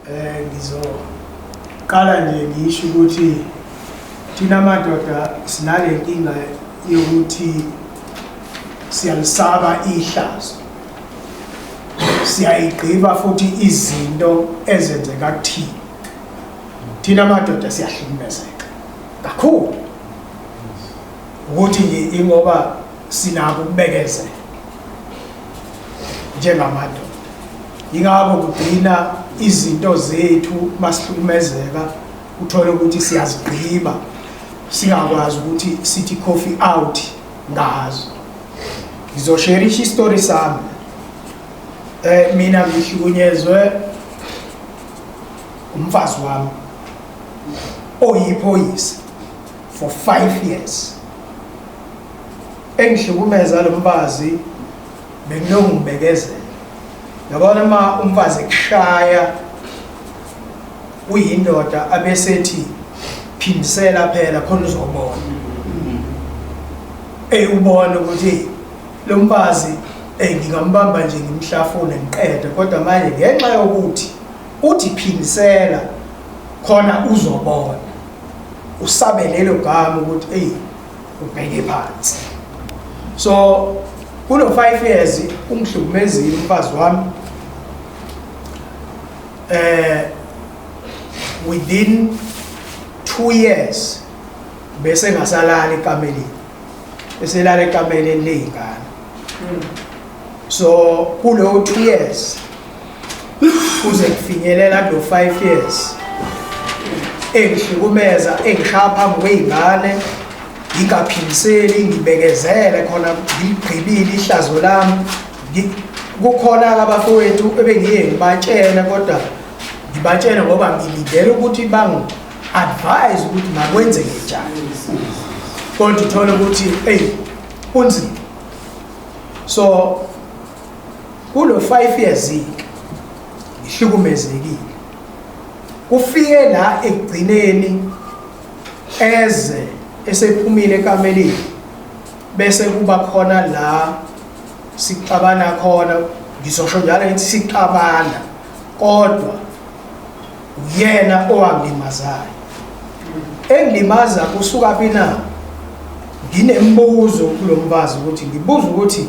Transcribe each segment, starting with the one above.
Eh ngizoqala nje ngisho ukuthi thina madoda sinale nkinga yokuthi siyalisaba ihlazo siyayigqiba futhi izinto ezenzeka kuthina thina madoda siyahlukumezeka kakhulu ukuthi ingoba Sinako ukubekezela njengamadoda. Yingakho kugcina izinto zethu masihlukumezeka uthole ukuthi siyazigqiba singakwazi ukuthi sithi coffee out ngazo. Ngizosherisha istory sami. Eh mina ngihlukunyezwe umfazi wami oyiphoyisa for 5 years engihlukumeza lo mfazi benginongibekezela yabona uma umfazi kushaya uyindoda abesethi phindisela phela khona uzobona eyubona ukuthi lo mfazi engingambamba nje ngimhlafune ngiqede kodwa manje ngenxa yokuthi uthi phindisela khona uzobona usabe lelo gama ukuthi eyi ubheke phansi so kulo five years ungihlukumezile umfazi wami eh within two years bese ngasalala ekameleni eselala ekameleni ley'ngane so kulowo two years kuze kufinyelela lo 5 years engihlukumeza engishaya phambi kwey'ngane ngingaphiliseli ngibekezele khona ngigqibile ihlazo lami kukhona-ke abafowethu ebengiye ngibatshele kodwa ngibatshele ngoba ngilindele ukuthi bangi-advise ukuthi makwenzeke njani kodwa uthole ukuthi eyi kunzima so Kulo 5 years ke ihlukumezekile. Kufike la ekugcineni eze esephumile ekameleni bese kuba khona la sixabana khona ngizosho njalo ngithi sixabana kodwa uyena owangilimazayo engilimaza kusuka phi na nginembuzo kulo mfazi ukuthi ngibuza ukuthi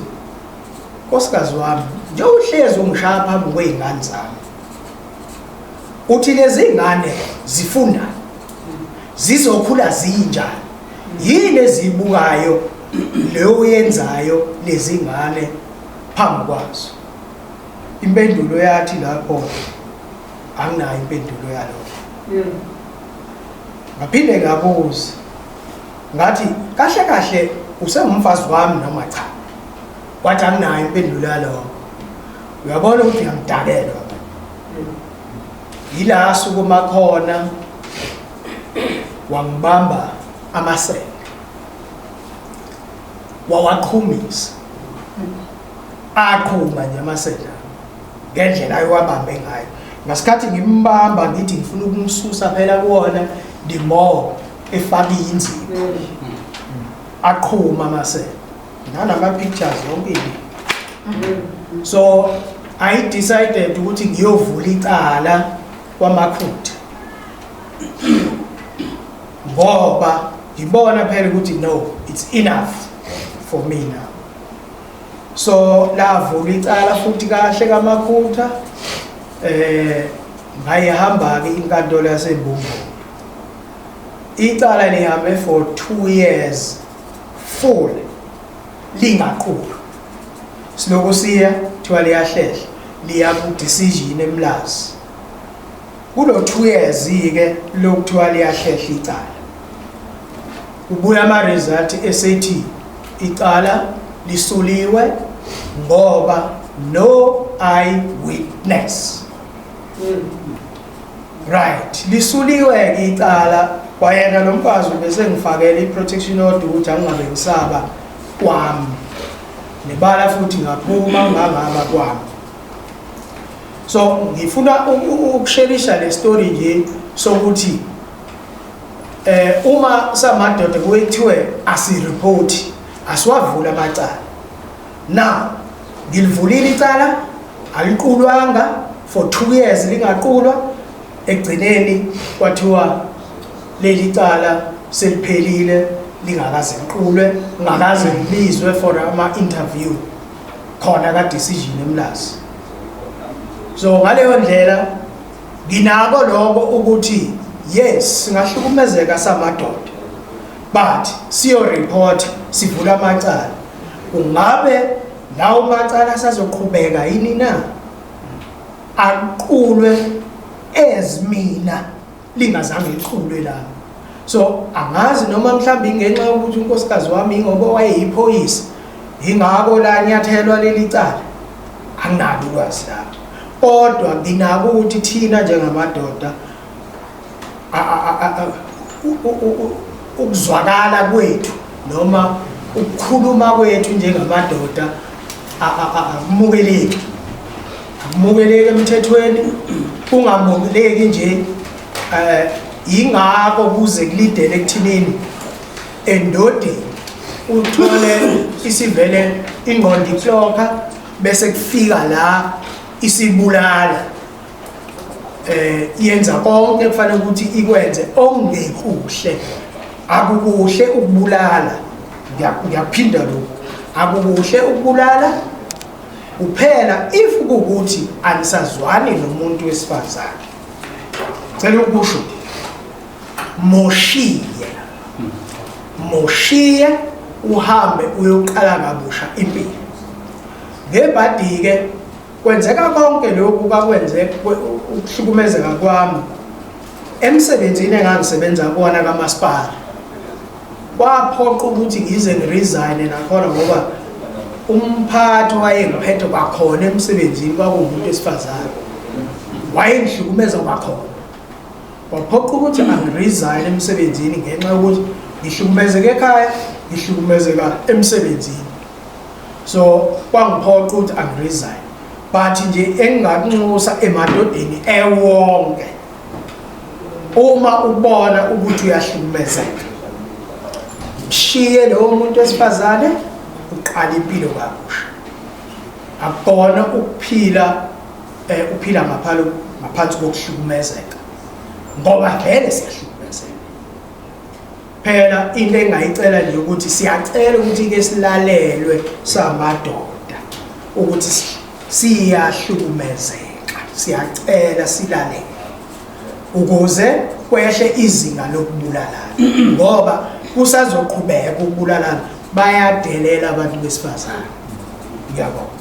Nkosikazi wami, njengoba uhlezi ungishaya phambi kwey'ngane zami, uthi lezi ngane zifundani zizokhula zinjani yini eziyibukayo leyo uyenzayo lezi ngane phambi kwazo impendulo yathi lapho anginayo impendulo yalokho hmm. ngaphinde ngabuza ngathi kahle kahle usengumfazi wami noma cha Wathi anginayo impendulo yalokho. Uyabona ukuthi ngiyamdakelwa. Yila sukuma khona wangibamba amasende. Wawaqhumisa. Aqhuma nje amasende ngendlela ayewabambe ngayo. Ngasikhathi ngimbamba ngithi ngifuna ukumsusa phela kuwona the more efaka inzipho. Aqhuma amasende. nanama pictures yonke so i decided ukuthi ngiyovula icala kwamakhutha ngoba ngibona phela ukuthi no it's enough for me now so lavula icala futhi kahle kamakhutha eh ngayihamba ke inkantolo yasembumbu icala lihambe for 2 years full lingaqulu siloku siya kuthiwa liyahlehla liya ku-decision emlazi kulo-two years-ke lokuthiwa liyahlehla icala ubuya ama-result esethi icala lisuliwe ngoba no eye witness mm. right lisuliwe-ke icala kwayena lo mfazi ubese ngifakele i-protection order ukuthi angingabe ngisaba kwami nebala futhi ngaphuma ngangaba kwami so ngifuna ukushelisha le story nje sokuthi eh uma samadoda kuyithiwe asireport asiwavula amacala now ngilivulile icala aliqulwanga for 2 years lingaqulwa egcineni kwathiwa leli cala seliphelile lingakaze liqulwe ngakaze ngibizwe for ama interview khona ka decision emlazi so ngaleyo ndlela nginako lokho ukuthi yes singahlukumezeka samadoda but siyo report sivula amacala Kungabe lawo macala asazoqhubeka yini na? Aqulwe ezimina lingazange liqulwe lapho. So angazi noma mhlawumbe ingenxa yokuthi unkosikazi wami ingoba wayeyiphoyisa ingako la nyathelwa leli cala anginalo ulwazi lapho kodwa nginako ukuthi thina njengamadoda ukuzwakala kwethu noma ukukhuluma kwethu njengamadoda akumukeleki akumukeleki emthethweni kungamukeleki nje eh ingakho kuze kulidele ekuthinini endodeni uthole isivele ingqondo iklokha bese kufika la isibulala eh yenza konke kufanele ukuthi ikwenze ongekuhle akukuhle ukubulala ngiyaphinda lokho akukuhle ukubulala kuphela if ukuthi anisazwani nomuntu wesifazane cela ukusho moshiye moshiye uhambe uyoqala kabusha impilo ngebhadi-ke Kwenzeka konke lokhu kwakwenze ukuhlukumezeka kwami emsebenzini engangisebenza kuwona kamasipala kwaphoqa ukuthi ngize ngiresign nakhona ngoba umphathi wayengiphethe kwakhona emsebenzini kwakuwumuntu esifazane wayengihlukumeza kwakhona waphoqa ukuthi angiresign emsebenzini ngenxa yokuthi ngihlukumezeke ekhaya ngihlukumezeka emsebenzini so kwangiphoqa ukuthi angiresign but nje engingakunxusa emadodeni ewonke uma ubona ukuthi uyahlukumezeka mshiye lowo muntu wesifazane uqala impilo kabusha akubona ukuphila eh uphila ngaphalo ngaphansi kokuhlukumezeka ngoba vele siyahlukumezeka Phela into engayicela nje ukuthi siyacela ukuthi ke silalelwe samadoda ukuthi siyahlukumezeka siyacela silalele ukuze kwehle izinga lokubulalana ngoba kusazoqhubeka ukubulalana bayadelela abantu besifazane ngiyabonga